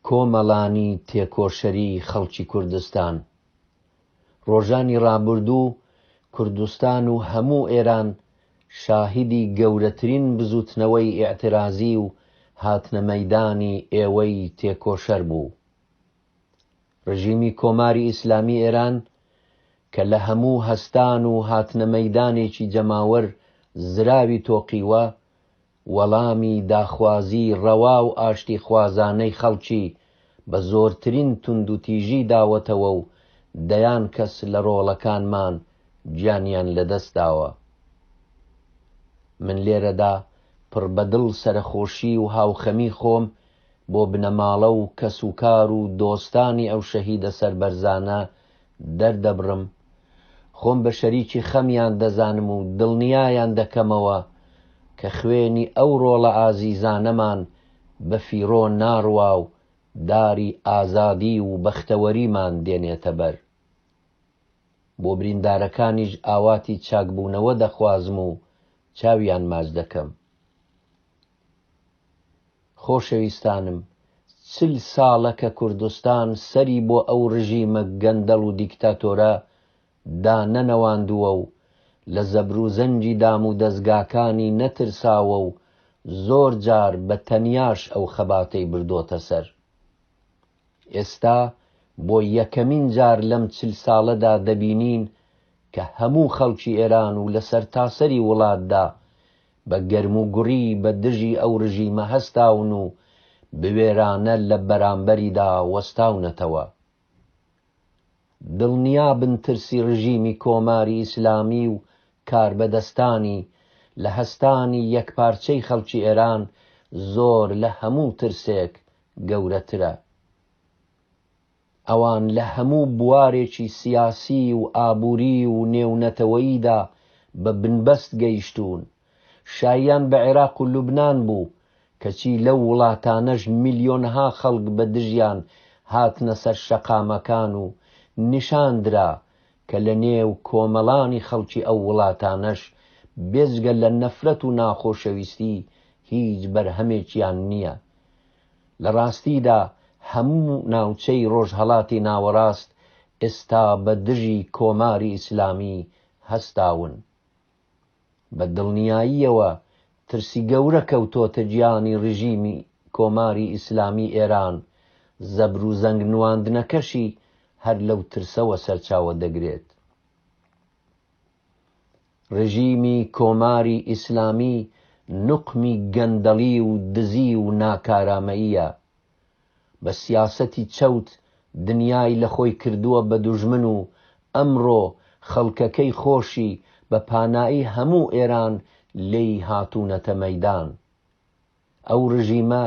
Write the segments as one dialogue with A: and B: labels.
A: کۆمەڵانی تێکۆشەری خەڵکی کوردستان ڕۆژانی ڕابردوو کوردستان و هەموو ئێران شاهیدی گەورەترین بزووتنەوەی ئیعترازی و هاتنە مەیدانی ئێوەی تێکۆشەر بوو. ڕژیمی کۆماری ئیسلامی ئێران کە لە هەموو هەستان و هاتنە مەیدانێکی جەماوەر زراوی تۆقیوە، وەڵامی داخوازی ڕەوا و ئاشتیخوازانەی خەڵکی بە زۆرترین توندوتیژی داوەتەوە و دەیان کەس لە ڕۆڵەکانمان گیانیان لەدەستداوە. من لێرەدا پڕ بە دڵ سەرەخۆشی و هاوخەمی خۆم بۆ بنەماڵە و کەسوکار و دۆستانی ئەو شەهیدە سەربەرزانە دەردەبڕم، خۆم بە شەریکی خەمیان دەزانم و دڵنیایان دەکەمەوە کە خوێنی ئەو ڕۆڵە ئازیزانەمان بە فیڕۆ ناڕوا و داری ئازادی و بەختەوەریمان دێنێتە بەر. بۆ بریندارەکانیش ئاواتی چاکبوونەوە دەخوازم و چاویان ماچ دەکەم. خۆشەویستانم چل ساڵە کە کوردستان سەری بۆ ئەو ڕژیمە گەندەڵ و دیکتاتۆرە دا نەنەواندووە و لە زەبروزەنگی دام و دەزگاکانی نەترساوە و زۆر جار بە تەنیاش ئەو خەباتەی بردۆتە سەر. ئێستا بۆ یەکەمین جار لەم چل ساڵە دا دەبینین کە هەموو خەڵکی ئێران و لە سەرتاسەری وڵات دا بە گەرموگوڕی بە دژی ئەو رژیمە هەستاون و بوێرانە لە بەرامبەریدا وەستاونەتەوە. دڵنیابن ترسی رژیمی کۆماری ئیسلامی و کاربەدەستانی لە هەستانی یەکپارچەی خەڵکی ئێران زۆر لە هەموو ترسێک گەورەترە. ئەوان لە هەموو بوارێکی سیاسی و ئابووری و نێونەتەوەییدا بە بنبەست گەیشتوون. شاییان بە عێراق و لوبنان بوو، کەچی لەو وڵاتانەش ملیۆنها خەڵک بە دژیان هاتنە سەر شەقامەکان و نیشان درا کە لە نێو کۆمەڵانی خەڵکی ئەو وڵاتانەش بێجگە لە نەفرەت و ناخۆشەویستی هیچ بەرهەمێکیان نییە لە ڕاستیدا هەموو ناوچەی ڕۆژهەڵاتی ناوەڕاست ئێستا بە دژی کۆماری ئیسلامی هەستاون. بە دڵنیاییەوە ترسی گەورە کەوتۆتە گیانی ڕژیمی کۆماری ئیسلامی ئێران، زەبر و زەنگ نواندنەکەشی هەر لەو ترسەوە سەرچاوە دەگرێت. ڕژیمی کۆماری ئیسلامی نوقمی گەندەڵی و دزی و ناکارامەییە. بە سیاسەتی چەوت دنیای لە خۆی کردووە بە دوژمن و ئەمڕۆ خەڵکەکەی خۆشی بە پانایی هەموو ئێران لێی هاتوونەتە مەیدان. ئەو ڕژیمە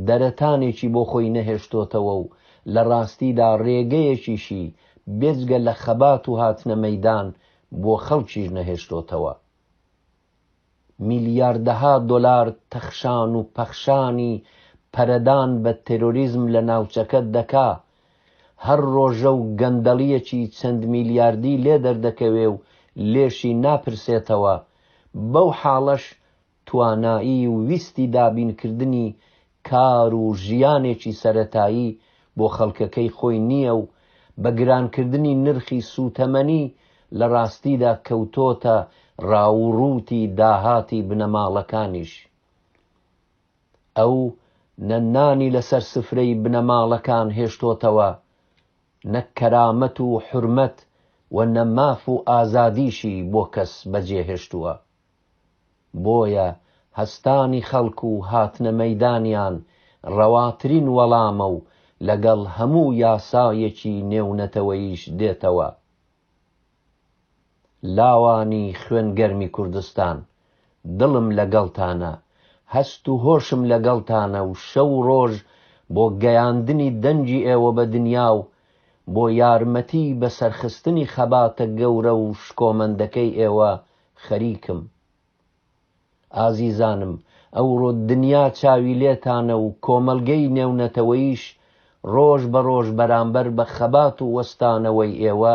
A: دەرەتانێکی بۆ خۆی نەهێشتۆتەوە و لە ڕاستیدا ڕێگەیەکیشی بێجگە لە خەبات و هاتنە مەیدان بۆ خەڵکیش نەهێشتۆتەوە. میلیاردەها دۆلار تەخشان و پەخشانی پەرەدان بە تێرۆریزم لە ناوچەکە دەکا، هەر ڕۆژە و گەندەڵییەکی چەند میلیاردی لێ دەردەکەوێ و لێشی ناپرسێتەوە، بەو حاڵەش توانایی و ویستی دابینکردنی کار و ژیانێکی سەرەتایی بۆ خەڵکەکەی خۆی نییە و بە گرانکردنی نرخی سووتەمەنی لە ڕاستیدا کەوتۆتە ڕاووڕووتی داهاتی بنەماڵەکانیش. ئەو نە نانی لەسەر سفرەی بنەماڵەکان هێشتۆتەوە، نە کەرامەت و حورمەت و نە ماف و ئازادیشی بۆ کەس بەجێهێشتووە. بۆیە هەستانی خەڵک و هاتنە مەیدانیان ڕەواترین وەڵامە و لەگەڵ هەموو یاسایەکی نێونەتەوەییش دێتەوە. لاوانی خوێن گەرمی کوردستان، دڵم لەگەڵتانە، هەست و هۆشم لەگەڵتانە و شەو و ڕۆژ بۆ گەیاندنی دەنگی ئێوە بە دنیا و بۆ یارمەتی بەسەرخستنی خەباتە گەورە و شکۆمەندەکەی ئێوە خەریکم. ئازیزانم ئەوڕۆ دنیا چاوی لێتانە و کۆمەڵگەی نێونەتەوەییش ڕۆژ بە ڕۆژ بەرامبەر بە خەبات و وەستانەوەی ئێوە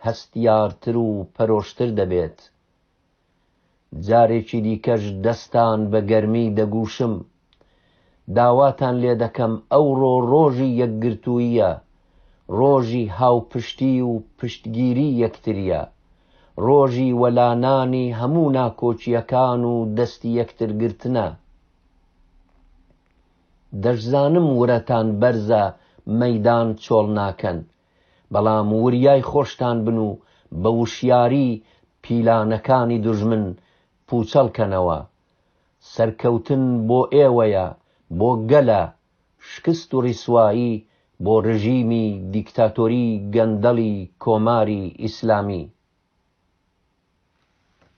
A: هەستیارتر و پەرۆشتر دەبێت. جارێکی دیکەش دەستان بە گەرمی دەگوشم. داواتان لێ دەکەم ئەوڕۆ ڕۆژی یەکگرتووییە، ڕۆژی هاوپشتی و پشتگیری یەکترییە، ڕۆژی وەلانانی هەموو ناکۆکییەکان و دەستی یەکتر گرتنە. دەشزانم ورەتان بەرزە مەیدان چۆڵ ناکەن، بەڵام وریای خۆشتان بن و بە وشیاری پیلانەکانی دوژمن پووچەڵ کەنەوە، سەرکەوتن بۆ ئێوەیە بۆ گەلە شکست و ڕیسوایی بۆ ڕژیمی دیکتاتۆری گەندەڵی کۆماری ئیسلامی.